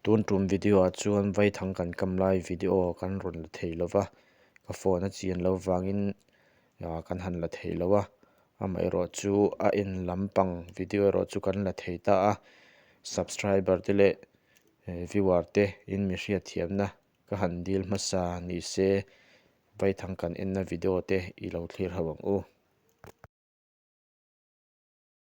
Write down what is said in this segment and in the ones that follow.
tun tum video ah chuan vai thang kan kam lai video kan rawn la thei lo va ka phone a chian lo vangin ah kan han la thei lo a amaherawh chu a en lam pang video erawh chu kan la thei ta a subscriber te leh eh viewer te in mi hriat thiam na ka han dil hmasa ni se vai thang kan en na video te i lo thlir ho ang u.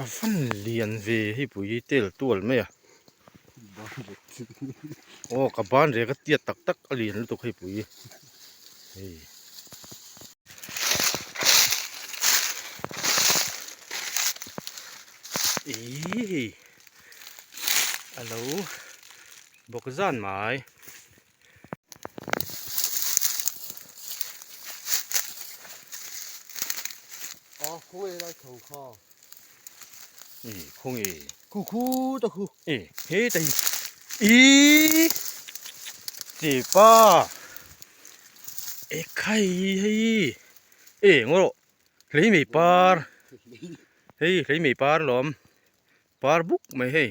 a van lian ve hi pui hi tel tual mai a aw ka ban rek a tiat tak tak a lian lutuk hei pui hi hei ihhh a lo bawk zan mai. Aw khung ei lai thawng kha. Ih khung ei. Khu khu ta khu. Ih he ta hi. Ih. Ti pa. E khai hei. E ngoro. Hlei mei par. Hei hlei mei par lom. Par buk mai hei.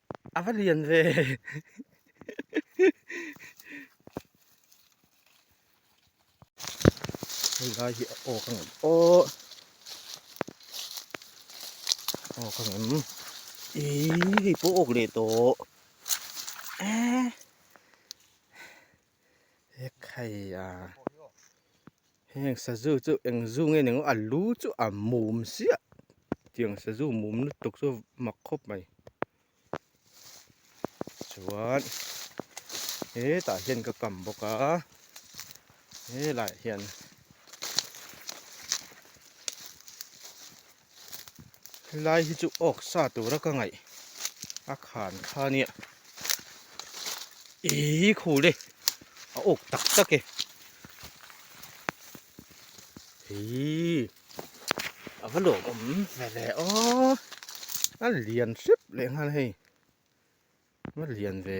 A va lian ve. Hei lai hi a awk ang em aw. Awk ang em. Ih, hei pawh awk leh tawh. Ehh. Hek hei a. Heng Sazu chu eng zu nge ning a lu chu a mum siah tiang Sazu mum lutuk chu mak khawp mai chuan hetah hian ka kam bawk a he lah hian. helai hi chu awk sa tura ka ngaih a khan kha nia ii khule a awk tak tak e ii a va lawm awm ve ve a a lian hrep leh nghal hei a lian ve.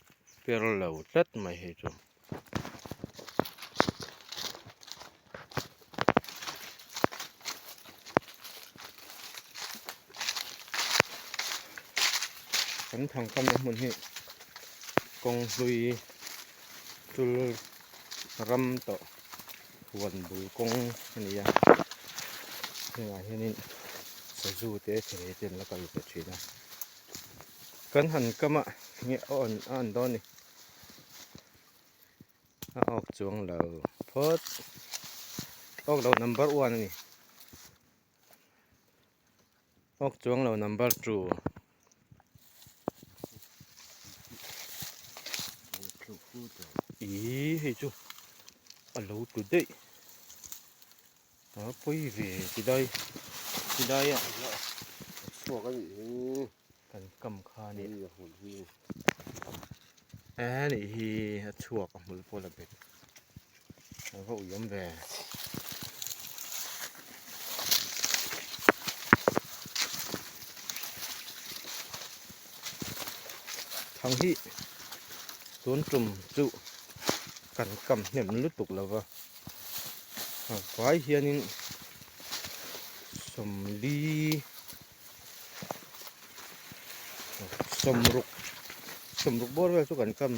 per lo tlat mai hi chu. Kan thang kam na hmun hi kawng hlui tul ram tawh huan bul kawng a ni a. Hengah hianin sazu te chhehei te an la kal ve thin a. Kan han kam a, nge a awn a awn dawn ni? A awk chuang lo phawt. Awk lo number one a ni. Awk chuang lo number two. Ih hei chu a lo tlu daih. Aa pawi ve ti dai ti dai a. Chhuak a nih hi. Kan kam kha a nih. Hei a hmun hi. Aa nih hi a chhuak a hmul pawh la bet. Aa va uiawm ve. Thang hi tun tum chu kan kam hnem lutuk lova. Vai hianin sawmli sawmruk sawmruk bawr vel chu kan kam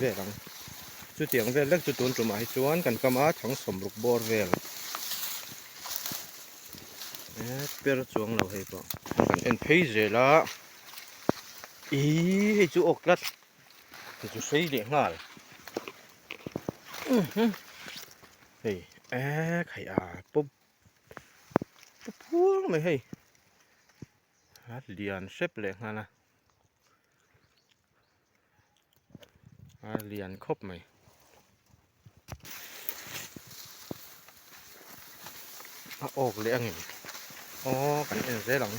vel ang chutiang vel deuh chu tun tumah hi chuan kan kam a thang sawmruk bawr vel eee per chuang lo hei pawh kan en phei zel a ihh hei chu awk tlat. Ka chu sawi leh nghal. Hei eee khai a pawp pawp huang mai hei. A lian hrep leh nghal a. A lian khawp mai. a awk leh angin aw kan en zel ang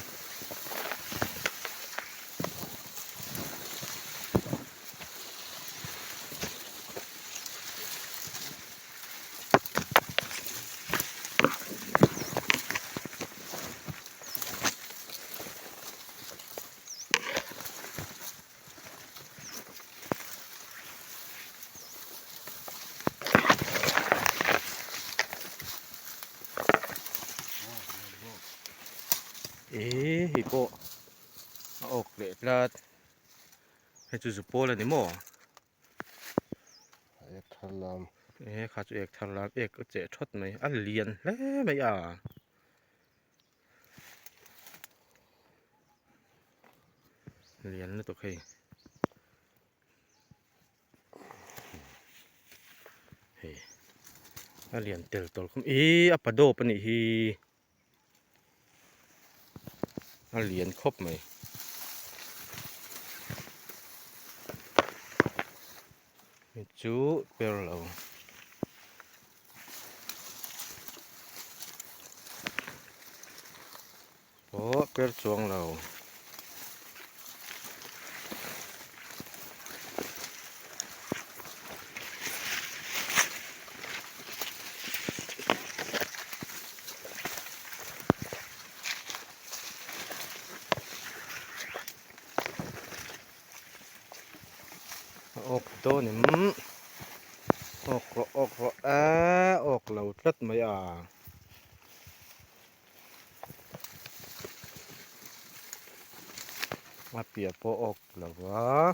eee hei pawh a awk leh tlat hei chu zu pawl a ni maw ee kha chu ek thar lam ek che thawt mai a lian hle mai a. lian lutuk hei hei a lian tel tawh khawp mai ihhh a pa dawp a nih hi a lian khawp mai. mi chu per lo aw per chuang lo awk dawn em awk rawh awk rawh eeee awk lo tlat mai a a piah pawh awk lo va.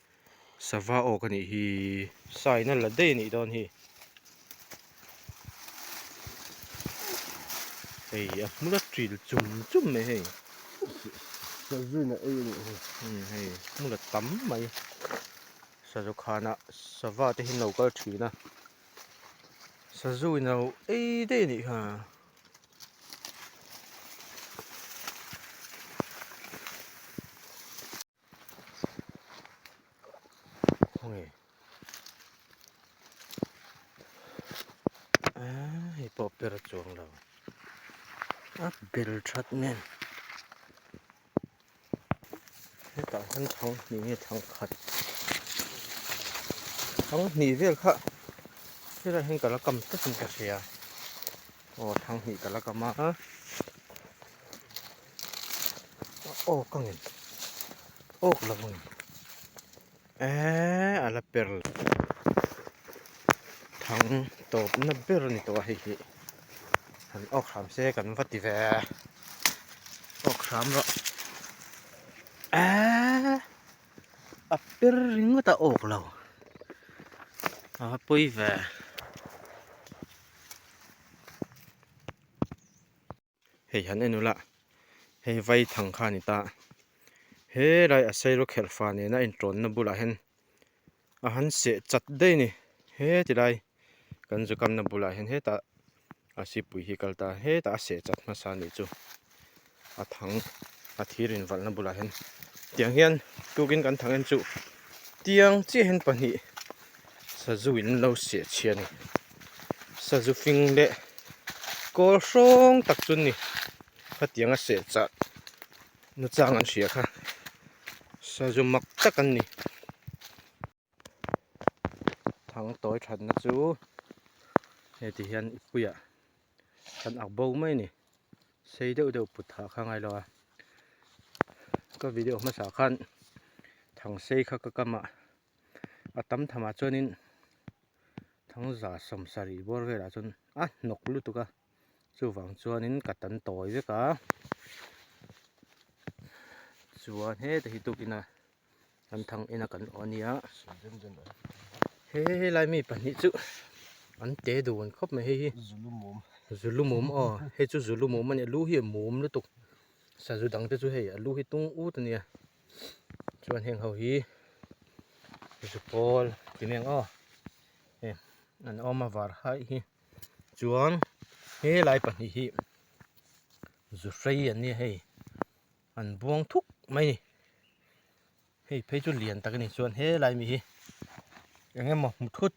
sava awk a nih hi. Sign a la daih a nih dawn hi. Hei a hmula ṭil chum chum mai hei. Sazuina ei a nih hi. Hmm hei a hmula tam mai. Sazu khana sava te hi an lo kal ṭhin a. Sazuina ei daih a nih ha. Hawngei aaa hei pawh ber a chuang lo a bel that nen hetah hian thang hnih nge thang khat thang hnih vel kha helai ah hian ka la kam tlat in ka hria aw thang hnih ka la kam a. awk a nghen awk lo nghen eeeee ala per la thang tawp na ber a ni tawh a hei hi han awk ham se kan va ti ve awk ham rawh eeeee a per ringawt a awk lo a pawi ve. Hei han en ula, hei vai thang kha a ni ta. Helai a sairo kher fa nena a inṭawnna bulah hian a han seh chat daih a ni. Hetilai kan zu kamna bulah hian hetah a sipui hi a kal ta a, hetah a seh chat hmasa a nih chu. A thang a thir invalhna bulah hian tiang hian tukin kan thang em chu tiang chiahin pahnih. Sazu in an lo siahchhia a ni. Sazu fing leh kawl hrawng tak chu a ni. Khatianga seh chah nu chang an hria kha. Sazu mak tak an ni. Thang tawi thatna chu heti hian i puiah kan ak bo mai a ni. Sei deuh deuh put hah kha a ngailo a. Ka video hmasa khan thang sei kha ka kam a. a tam tham ah chuan in thangza sawmsa rih bawr vel ah chuan a hnawk lutuk a chuvang chuan in ka tan tawi vek a chuan he te hi tuk in a an thang in a kan awh a ni a he helai mi pahnih chu an te dun khawp mai hei hi zulumawm aw hei chu zulumawm a ni a lu hi a mum lutuk sazu dang te chu hei a lu hi tung ut a ni a. chuan heng ho hi Zupawl Timeng aw heh an awm a var haih hi chuan helai pahnih hi Zu Hrei an nia hei an buang thuk mai a ni hei phei chu lian tak a ni chuan helai mi hi eng emaw muthut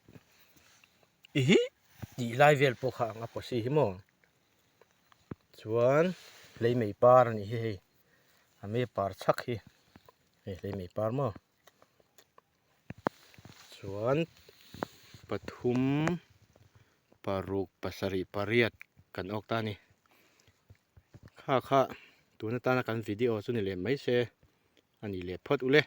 ihih tih lai vel pawh kha anga possible hi maw. chuan hleimei par a nih hi hei a mi par chak hi hei hleimei par maw chuan pathum paruk pasarih pariat kan awk ta a ni kha kha tun atana kan video chu ni lem mai se a nih leh phawt uleh.